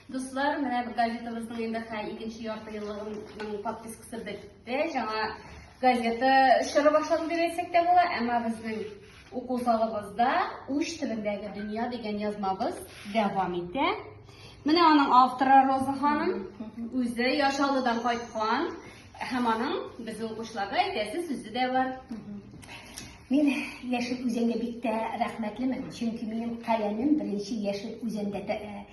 Дуслар, менә газетабызның инде хәй икенче ярты еллыгының подпискасы бетте. Жаңа газета чоры башлады дип әйтсәк тә була, әмма безнең уку залыбызда Уч төбендәге дөнья дигән язмабыз дәвам итә. Менә аның авторы Роза ханым үзе Яшалыдан кайткан. Һәм аның безнең укучыларга әйтәсе сүзе дә бар. Мин яшел үзәнгә бик тә рәхмәтлемен, чөнки минем каләмем беренче яшел үзәндә э,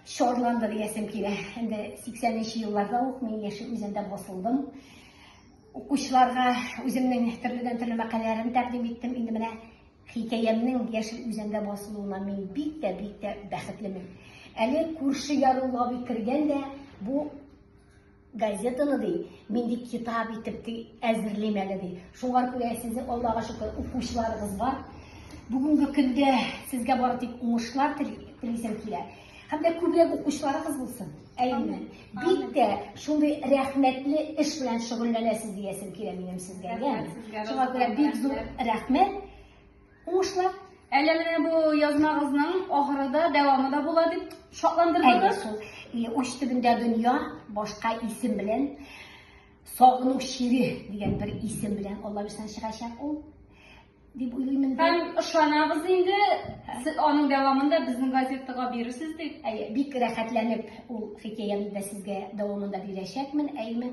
чорланды диясем килә. Инде 80нче елларда ук мин яшел үзәндә басылдым. Укучыларга үземнең төрледән төрле мәкаләләрен тәкъдим иттем. Инде менә хикәямнең яшел үзәндә басылуына мин бик тә бик тә бәхетлемен. Әле күрше ярулга бик кергән дә бу Газетаны ди, мин ди китап итеп ди әзерлим әле ди. Шуңа күрә сезне Аллага шөкер укучыларыгыз бар. Бүгенге көндә сезгә бары тик уңышлар телисем килә. Һәм дә күбрәк укучыларыгыз булсын. Әйме. Бик тә шундый рәхмәтле эш белән шөгыльләнәсез диясем килә минем сезгә. Шуңа күрә бик зур рәхмәт. Уңышлар! Әллә менә бу язмагызның ахыры да, дәвамы да була дип Әле шатландырдыгыз. шул и, уч төбендә дөнья башка исем белән сагыну чире дигән бер исем белән Алла бирсә чыгачак ул дип уйлыйм инде. Һәм ышанабыз инде, сез аның дәвамын да безнең газетага бирерсез дип. Әйе, бик рәхәтләнеп ул хикәяне дә сезгә дәвамында бирәчәкмен, әйеме?